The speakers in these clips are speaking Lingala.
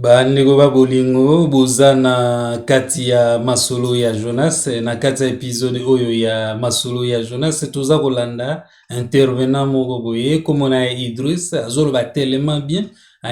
bandeko ba bolingo boza na kati ya masolo ya jonas na kati ya episode oyo ya masolo ya jonas toza kolanda intervenant moko boye komona ya idris azoloba tellement bien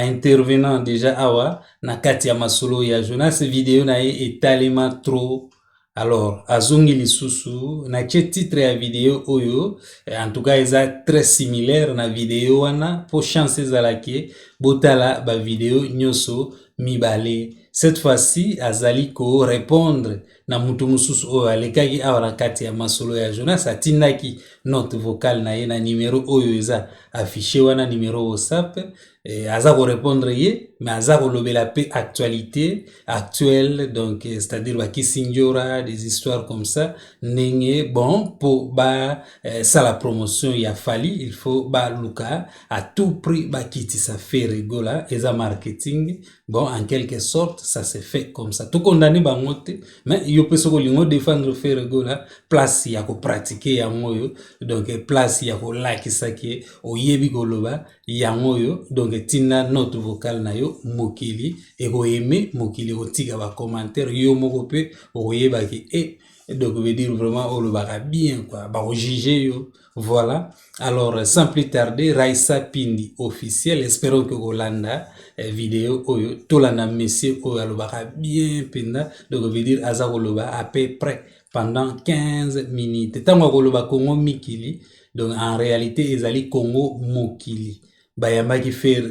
intervenant deja awa na kati ya masolo ya jonas video na ye etalema trop alors azongi lisusu natie titre ya video oyo eh, en tout cas eza très similaire na video wana po chance ezalaki botala ba video nyonso mibale cette fois-ci azali ko répondre na mutu mosusu oyo alekaki awa na kati ya masolo ya jonas atindaki note vocale na ye na numero oyo eza affiche wana numero whatsapp eh, aza ko répondre ye mais aza kolobela pe actualité actuelle donc eh, c'est-à-dire ba kisindjora des histoires comme ça ndenge bon po ba eh, sala promotion ya fali il faut ba luka à tout prix ba kitisa fe rigola eza marketing bon en quelque sorte ça se fait comme ça tout condamné bango te mais yo pe soko lingo défendre fe rigola place ya ko pratiquer yango yo donc eh, place ya kolakisa ke oyebi koloba yango oyo donc etinda note vocale na yo mokili ekoyeme mokili ekotika bacommentaire yo moko mpe okoyeba ke e eh, donc veut dire vraiment olobaka bien quoi bakojuge yo voilà alors sans plus tarder raisa pindi officiel espérons ke kolanda eh, video oyo tolanda monsieur oyo alobaka bien mpenza donc veut dire aza koloba à peu près pendant 15 minutes ntango akoloba kongo mikili donc en réalité ezali congo mokili bayambaki fere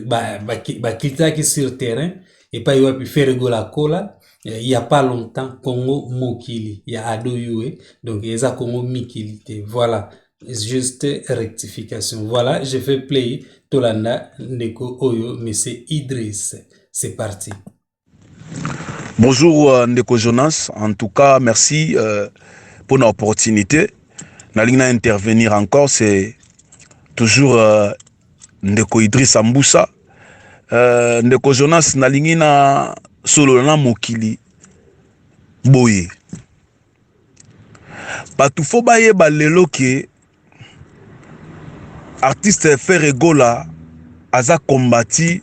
baklitisaki ba, sur terrain epai wapi fere gola akola eh, il y a pas longtemps congo mokili ya ado yue donc eza congo mikili te voilà juste rectification voilà je fais play tolanda ndeko oyo monsieur idris c'est parti Bonjour euh, ndeko Jonas, en tout cas merci euh, pour l'opportunité. Nalingi na intervenir encore, c'est toujours euh, ndeko Idriss Ambusa. Euh, ndeko Jonas nalingi na solo na mokili boye. Bato fo bayeba lelo ke artiste Ferre Gola aza combati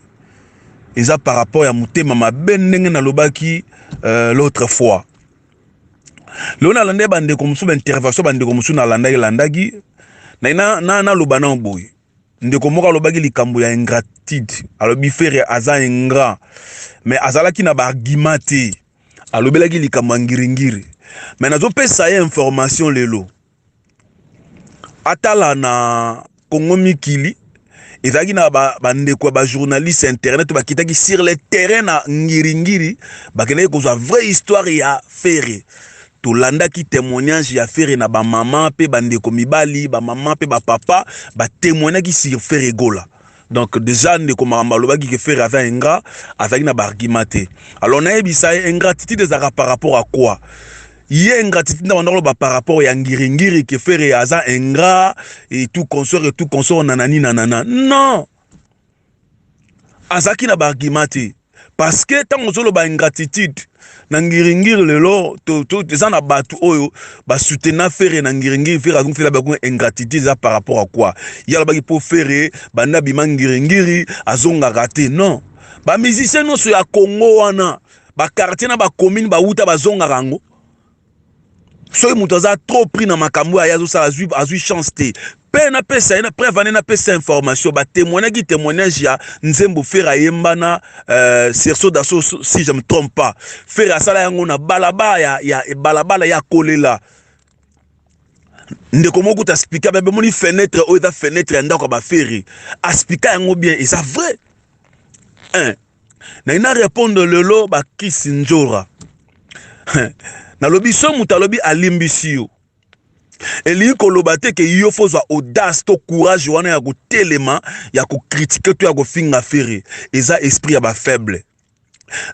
eza par rapport ya motema mabe ndenge nalobaki euh, l'autre fois lelo nalandaki bandeko mosusu baintervention bandeko mosusu nalandaki landaki naloba nao boye ndeko moko alobaki likambo ya ingratitude alobi fere aza ingrat mais azalaki na baargument te alobelaki likambo ya ngiringiri mais nazopesa ye information lelo atala na Congo mikili ezalaki na bandeko ba ya bajournaliste ya internet bakitaki sur le terrain na ngiringiri bakendaki kozwa vraie histoire ya fere tolandaki témoignage ya fere na bamama mpe bandeko mibali bamama mpe bapapa batemoignaki sur fere gola donc déjà ndeko makambo alobaki ke fere aza ingrat azalaki na baargument te alors nayebisa ye ingratitude ezalaka par rapport à quoi ye ingratitude na banda koloba par rapport ya ngiringiri ke fere aza ingrat et tout consort et tout consort nanani nanana non azalaki na baargument te parce que ntango ozoloba ingratitude na ngiringiri lelo eza na bato oyo basutena fere na ngiringiri fere azongi fela bakunga ingratitude eza par rapport à quoi ye alobaki mpo fere banda bima ngiringiri azongaka te non bamusicien nyonso ya congo wana ba quartier na ba commune ba wuta bazongaka yango soki moto aza trop pris na makambo oyo aye azosala azwi, azwi chance te mpe napesa ye na preuve ane napesa information batemoignaki témoignage ya nzembo fere ayemba na euh, serso daso si je me trompe pas fere asala yango na balabala ya, ya balabala ya kolela ndeko moko kuta aspika bebe moni fenêtre oyo eza fenêtre ya ndako ya bafere aspika yango bien eza vrai hein na ina repondre lelo bakisi njora nalobi so moto alobi alimbisi yo elingi koloba te ke yo fo ozwa audace to courage wana ya kotelema ya kokritike to ya kofinga fere eza esprit ya bafaible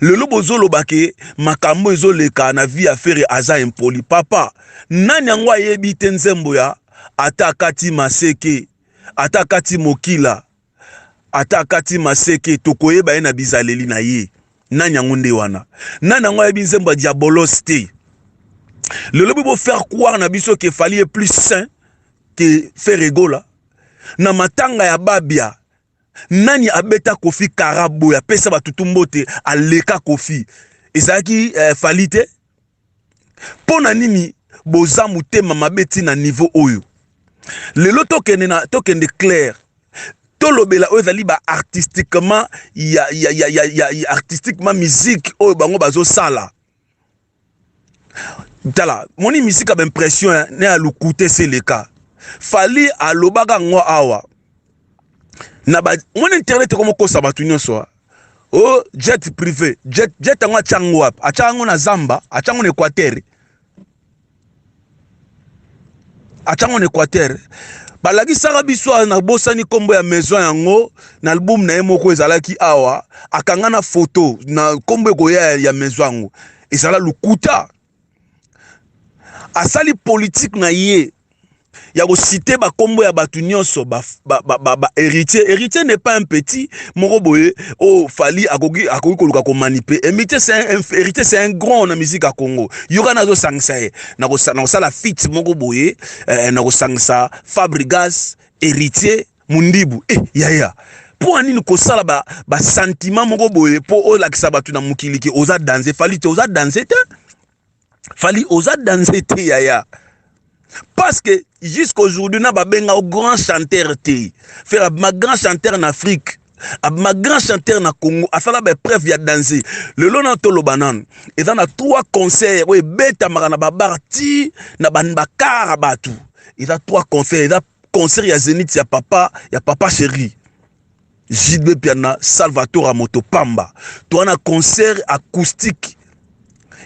lelo bozoloba ke makambo ezoleka na vie ya fere aza impoli papa nani yango ayebi te nzembo ya ata akati maseke ata akati mokila Ata akati maseke tokoyeba ye na bizaleli na ye. Nani yango nde wana? Nani yango ayebi nzembo ya Diabolos te? Lelo bo faire croire na biso que Fally est plus sain que Ferre Gola. Na matanga ya Babia nani abeta Kofi Karabo ya pesa batutu mbote aleka Kofi. Ezalaki eh, Fally te? mpo na nini boza motema mabe ti na niveau oyo lelo tokende na tokende claire tolobela oyo ezali ba artistiquement ya, ya, ya, ya, ya, ya artistiquement musique oyo bango bazosala tala moni misika baimpression eh, na ya lukute seleka fali alobaka yango awa na ba moni internet ekomokosa bato nyonso o oh, jet privé jet jet yango atya yango wapi atya yango na zamba atya yango na équateur atya yango na équateur balakisaka biso awa nabosani nkombo ya maison yango na albumu na ye moko ezalaki awa akanga na foto na nkombo ekoya ya maison yango ezala lokuta asali politique na ye ya kosite bakombo ya bato nyonso baheritier heritier n'est pas un petit moko boye oyo oh, fali akoki akoki koluka komanipe heritier eh, c'est un grand na musique ya congo yoka nazosangisa ye na kosala fit moko boye eh, na kosangisa fabrigas héritier Mundibu eh yaya mpo na nini kosala ba, ba sentiment moko boye mpo olakisa bato na mokili ke oza danze fali te oza danze te fali oza danze te yaya parce que jusqu'aujourd'hui na babenga o grand chanteur te faire abima grand chanteur na afrique abima grand chanteur na congo asala baepreuve ya danze lelo na toloba nanu eza na trois concert oyo ebetamaka na babar ti na bakara bato eza trois concert eza concert ya zenith ya papa ya papa chéri jidbe piana salvatore moto pamba toa na concert acoustique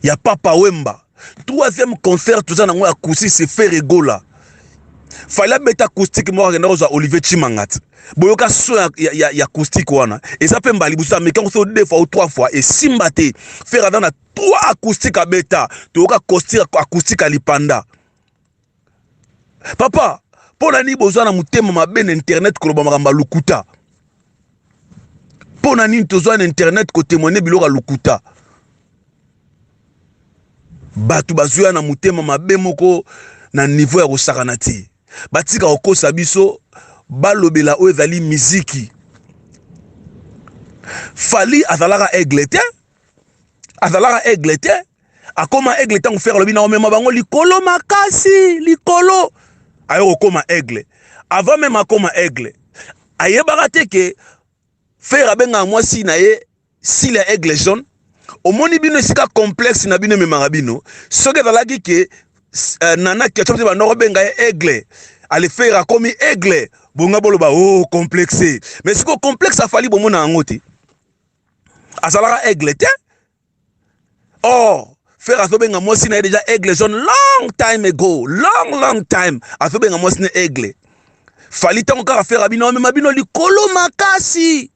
ya papa wemba troisième concert toza nango ya acoustique se faire egola fali abeta acoustique moko akenda kozwa olivier chimangat boyoka so ya, ya, ya, ya acoustique wana eza mpe mbala liboso ameki yango so deux fois ou trois fois esimba te fere aza na trois acoustique abeta toyoka acoustique alipanda papa mpo na nini boza na motema mabe na internet koloba makambo ya lokuta mpo na nini tozwa na internet kotemoigne biloko ya lokuta bato bazoya na motema mabe moko na nivo ya kosakana te batika kokosa biso balobela oyo ezali miziki fali azalaka aigle te azalaka aigle te akoma aigle ntango fere alobi naomema bango likolo makasi likolo ayo kokoma aigle avant meme akoma aigle ayebaka te ke fere abengaka mwasi na ye sile ya aigle jaune omoni bino esika complexe na bino ememaka bino soki ezalaki ke uh, nana kiaco te bandoko benga ye aigle alefere akomi aigle bonga boloba o oh, complexe mais sikoyo complexe afali bomona yango te azalaka aigle te or frère azobenga mwasi na ye deja aigle jaune long time ago long long time azobenga mwasi na aigle fali ntango kaka frère abino amema bino likolo makasi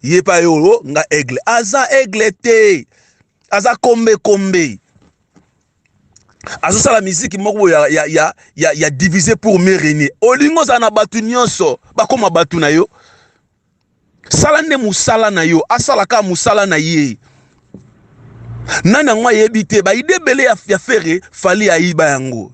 ye pa ye oyo nga aigle aza aigle te aza kombe kombe azosala miziki moko boye ya, ya, ya, ya, ya divise pour me renie olingi ozala na bato nyonso bakoma bato na yo sala nde musala na yo asala kaka musala na ye nani yango ayebi te baide ebele ya, ya fere fali ayiba yango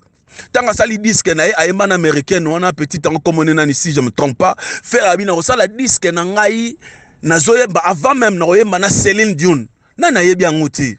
ntango asali diske na ye ayemba na américaine wana petit yango komone nani si je me trompe pas fere abi nakosala diske na ngai nazoyemba avant meme nakoyemba na celine dune nani ayebi yango te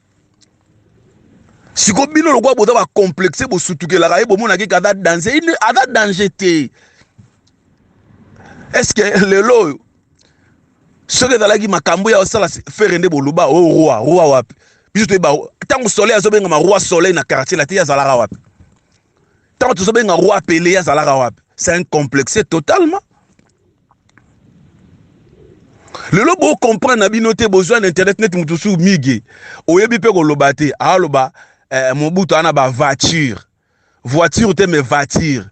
siko bino lokola boza bacomplexe bosutukelaka ye bomonaki ke aza danger ine aza danger te estce que lelo oyo soki ezalaki makambo ya osala fere nde boloba o oh, roi roi wapi biso toyeba ntango soleil azobengama roi soleil na quartier late ye azalaka wapi ntango tozobenga roi pele ye azalaka wapi c'est un complexe totalement lelo bo comprendre na bino te bozwa na internet neti moto mosusu mige oyebi mpe koloba te aloba eh, mobutu ana ba voiture voiture te mais voiture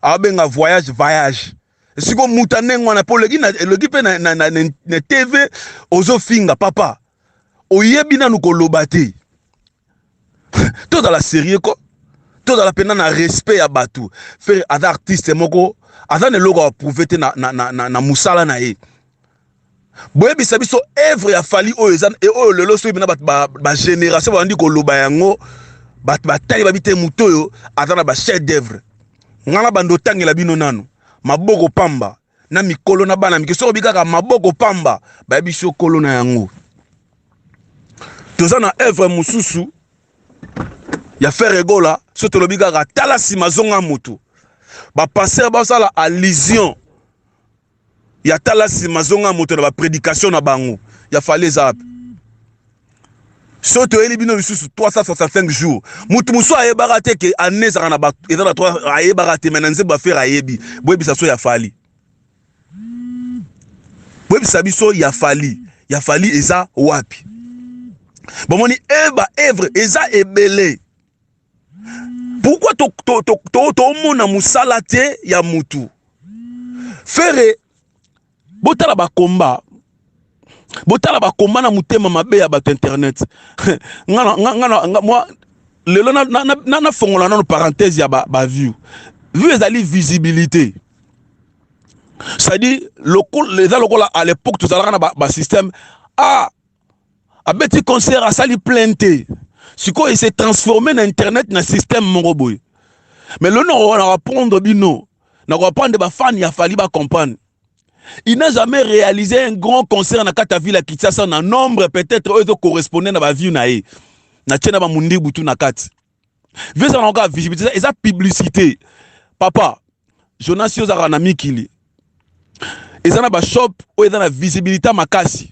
abenga voyage voyage siko muta ndenge wana mpo oleki eleki mpe na, na, na, na, na tv ozofinga papa oyebi nanu koloba te tozala serieux ko tozala mpenza na respect ya bato fere aza artiste moko aza na eloko aprouve te na, na, na, na, na mosala na ye boyebisa biso evre ya fali oyo eza e oyo lelo soki bina bato bagénération babandi koloba yango bato batali babi te moto oyo aza na bachef d'evre ngai na bando otangela bino nano maboko pamba na mikolo na bana mike soki obi kaka maboko pamba bayebi so kolo na yango toza na evre mosusu ya fere egola so tolobi kaka tala nsima zonga motu bapastere basala allusion ya tala nsima zonga moto na bapredikation na bango ya fali eza wapi so toyeli bino lisusu 365 jours mutu mosusu ayebaka te ke année ezaka na ba eza na 3 ayebaka te mais na nzembo afere ayebi boyebisa so ya fali boyebisa biso ya fali ya fali eza wapi bomoni e ba evre eza ebele pourquoi tomona mosala te ya mutu fere botala ba combat botala ba combat na mutema mabe ya bato internet ngana ngana nga, moi lelo na na na, na fongola nano parenthèse ya ba, ba view view ezali visibilité c'est-à-dire lokola eza lokola à l'époque tozalaka na ba, ba système ah abeti concert asali plein te sikoyo ese transforme na internet na système moko boye mais lelo na koprendre bino na comprendre ba fan ya Fally ba comprendre il n'a jamais réalisé un grand concert na kata ville ya Kinshasa na nombre peut-être oyo ezo correspondre na ba view na ye na tie na ba mundibu tu na kati vieux na ka visibilité eza publicité papa Jonas yo zaka na mikili eza na ba shop oyo eza na visibilité makasi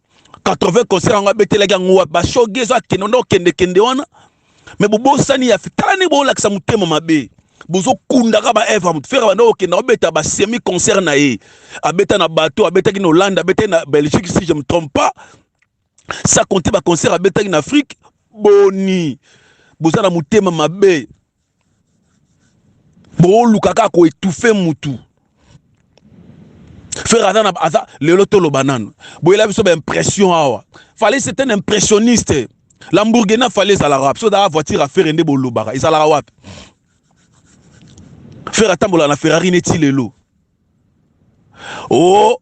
80 concert yango abetelaki yango wapi bashoge ezo akende nde okendekende wana me bobosani ya tala ndenge boolakisa motema mabe bozokundaka baevre moto fere banda okenda obeta basemi concert na ye abeta na bato abetaki na hollande abetaki na belgique si je me trompe pas sa compte baconcert abetaki na afrique boni boza na motema mabe booluka kaka koetufe mutu frère aza na aza lelo toloba nanu boyela biso baimpression awa fale c'est un impressionniste lambourgena fale ezalaka wapi so ezalaka voiture ya fere nde bolobaka ezalaka wapi fere atambolaka na ferrari neti lelo o oh,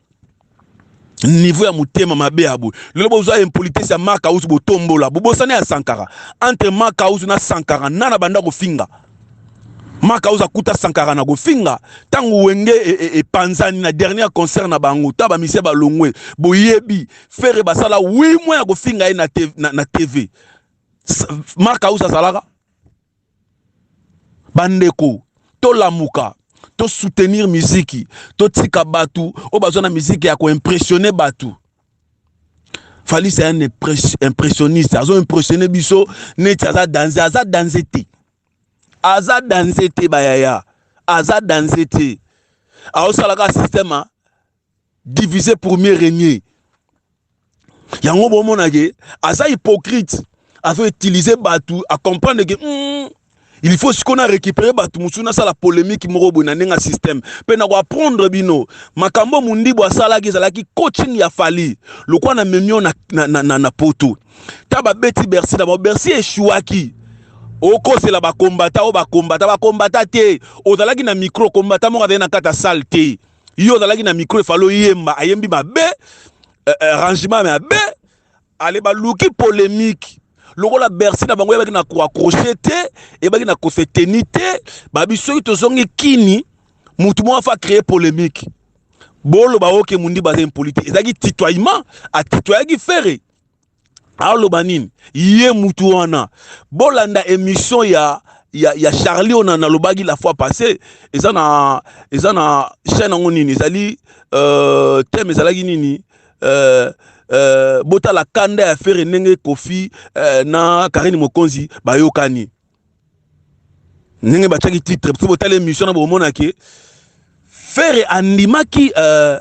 niveau ya motema mabe ya boye lelo bozwa impolitesse ya makausu botombola bobosana ya sankara entre makausu na sankara nana banda kofinga makausu akuta sankara na kofinga ntango wenge e, e, epanzani e, e na dernier concert na bango ta bamisie balongwe boyebi fere basala wi mwa ya kofinga ye na, na, na tv makausu azalaka bandeko tolamuka to soutenir miziki totika bato oyo baza na miziki ya koimpressionne bato Fally c'est un impressionniste azo impressionne biso neti aza danze aza danze te aza danze te bayaya aza danze te aosalaka système diviser pour mieux régner yango bomona ke aza hypocrite azo utiliser batu a comprendre ke mm, il faut sikoyo na récupérer bato mosusu nasala polémique moko boye na ndenge ya système mpe na koapprendre bino makambo mondibu asalaki ezalaki coaching ya fali lokola na memio na, na, na, na, na poto ta babeti bercy na bango bercy eshuaki okosela bakombata oyo bakombata bakombata te ozalaki na micro kombata moko azali na kati ya sale te yo ozalaki na micro efale oyemba ayembi mabe eh, eh, rangement mabe ale baluki polemique lokola bercy na bango eyebaki na koaccroche te eyebaki na kose teni te babi soki tozongi kini motu moko afa créer polemique boloba oke mundi baza impolite ezalaki titoyement atitoyaki fere aloba nini ye mutu wana bolanda emission ya ya, ya charlie oyo nalobaki la fois passé eza na eza na chaîne yango nini ezali euh, teme ezalaki nini euh, euh, botala kanda ya fere ndenge kofi euh, na karine mokonzi bayokani ndenge batiaki titre biso botala émission na bomona ke ferre andimaki euh,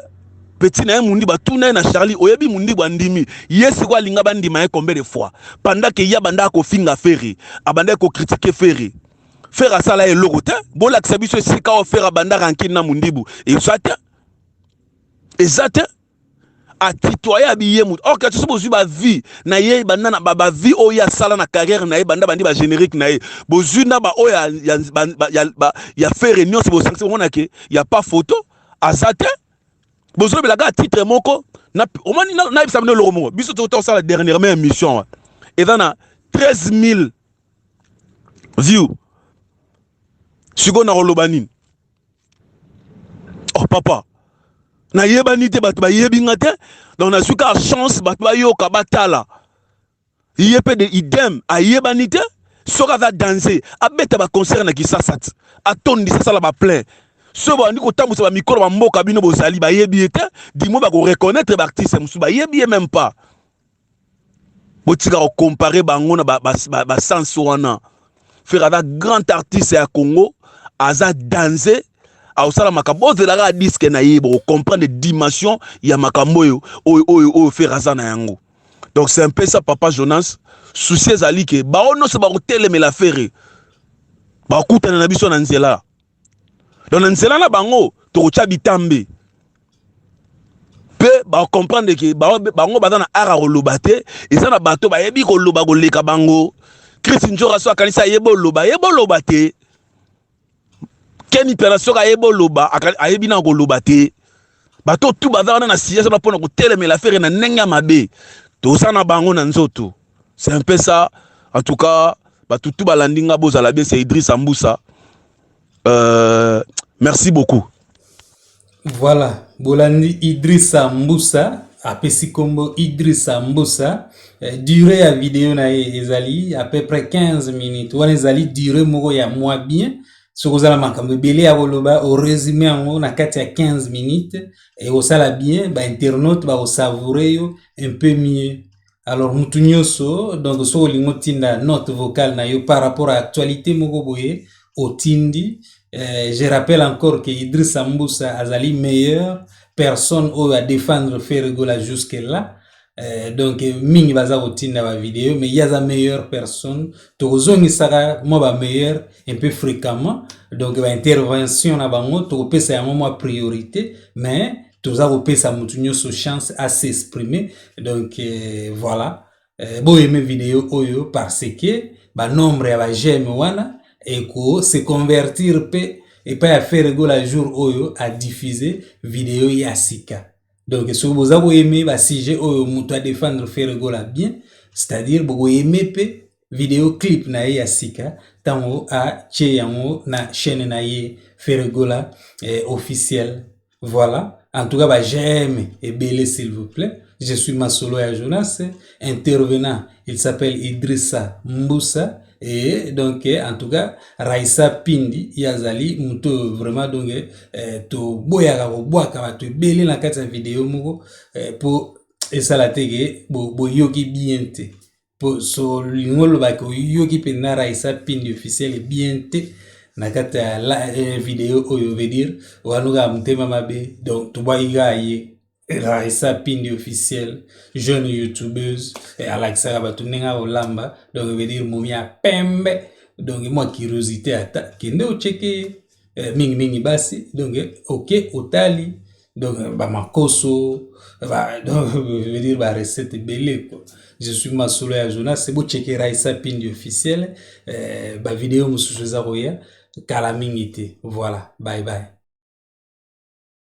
petit na ye mundi batuna ye na charlie oyebi mundi bandimi ye sikoyo alinga bandima ye combien de fois pendant ke ye abandaka kofinga ferre abandaki kokritike ferre ferre asala ye eloko te bolakisa biso esika oyo ferre abandaka nkini na mundibu eza te eza te atitoye abi ye moto or kati soki bozwi bavie na ye banda na bavie oyo ye asala na carrière na ye banda bandi bagénérique na ye bozwi na baoyo ya, ya, ya, ya, ya fere nyonso bosangisi komona ke ya pas photo aza te bozolobela kaka titre moko omoni nayebisa bino eloko moko biso tokuta kosala dernièrement émission wa eza na 13 000 view sikoyo nakoloba nini oh papa nayebani te bato bayebi nga te donc nazwi kaka chance bato bayoka batala ye mpe de idem ayebani te soki aza danse abeta baconcert na kisasa ti atondisa asala baplein soki bandi kotambwisa bamikolo bamboka bino bozali bayebi ye te dimo bakoreconnaitre baartiste mosusu bayebi ye meme pas botika ko comparer bango na ba, ba, ba, ba sens wana frère aza grand artiste ya congo aza danze akosala makambo ozela kaka diske na ye bokocomprendre dimension ya makambo oyo oyo oyo oyo frère aza na yango donc c'est un peu ça papa jonas souci ezali ke baoyo nyonso bakotelemela ferre bakutana na biso na nzela donc na nzela na bango tokotya bitambe mpe bakomprendre ke bango baza na ara koloba te eza na bato bayebi koloba koleka bango chris njora so akanisi ayebi oloba ayebi oloba te keni pela soki ayebi oloba ayebi na koloba te bato tu baza wana na siège wana mpona kotelemela fere na ndenge ya mabe toza na bango na nzoto c'est un peu ça en tout cas bato tu balandi nga bozala bien c'est idris ambusa euh, merci beaucoup voilà bolandi idris ambusa apesi nkombo idris ambusa eh, durée ya video na ye ezali à peu près 15 minutes wana ezali durée moko ya mwa bien soki oza na makambo ebele ya koloba oresume yango na kati ya 15 minutes ekosala bien bainternaute bakosavoure yo un peu mieux alors mutu nyonso donc soki olingi otinda note vocale na yo par rapport à actualité moko boye otindi eh, je rappelle encore que idrissa mbusa azali meilleur personne oyo adefendre ferregola jusque là Eh, donc mingi baza kotinda ba video mais ye aza meilleure personne tokozongisaka mwa ba meilleure un peu fréquemment donc ba intervention na bango tokopesa yango mwa priorité mais toza kopesa motu nyonso chance à s'exprimer donc eh, voilà eh, boyeme video oyo parce que banombre ya bageme wana eko se convertir mpe epai ya ferre gola jour oyo adiffuse video ya sika donc soki boza koyeme basujet oyo moto adefendre fere gola bien c'est-à-dire bokoyeme mpe video clip na ye ya sika ntango atye yango na chaîne na ye fere gola eh, officiel voilà en tout cas ba j'aime ebele s'il vous plaît je suis masolo ya jonas intervenant il s'appelle Idrissa Mbusa et donc en tout cas Raissa Pindi ye azali moto oyo vraiment donc eh, toboyaka kobwaka bato ebele na kati ya video moko eh, mpo esala te ke boyoki bo bien te mpo so lingo olobaki oyoki mpenza Raissa Pindi officiel bien te na kati ya eh, video oyo veut dire oaluka motema mabe donc tobwaki kaka ye Larissa Pindi officiel jeune youtubeuse eh, alakisaka bato ndenge akolamba donc veut dire momi ya pembe donc mwa curiosité ata kende ocheke eh, mingi mingi basi donc oke otali donc bamakoso ba, donc veut dire barecette ebele quoi je suis masolo ya jonas bocheke raisa pindi officiel eh, bavideo mosusu eza koya kala mingi te voilà bye bye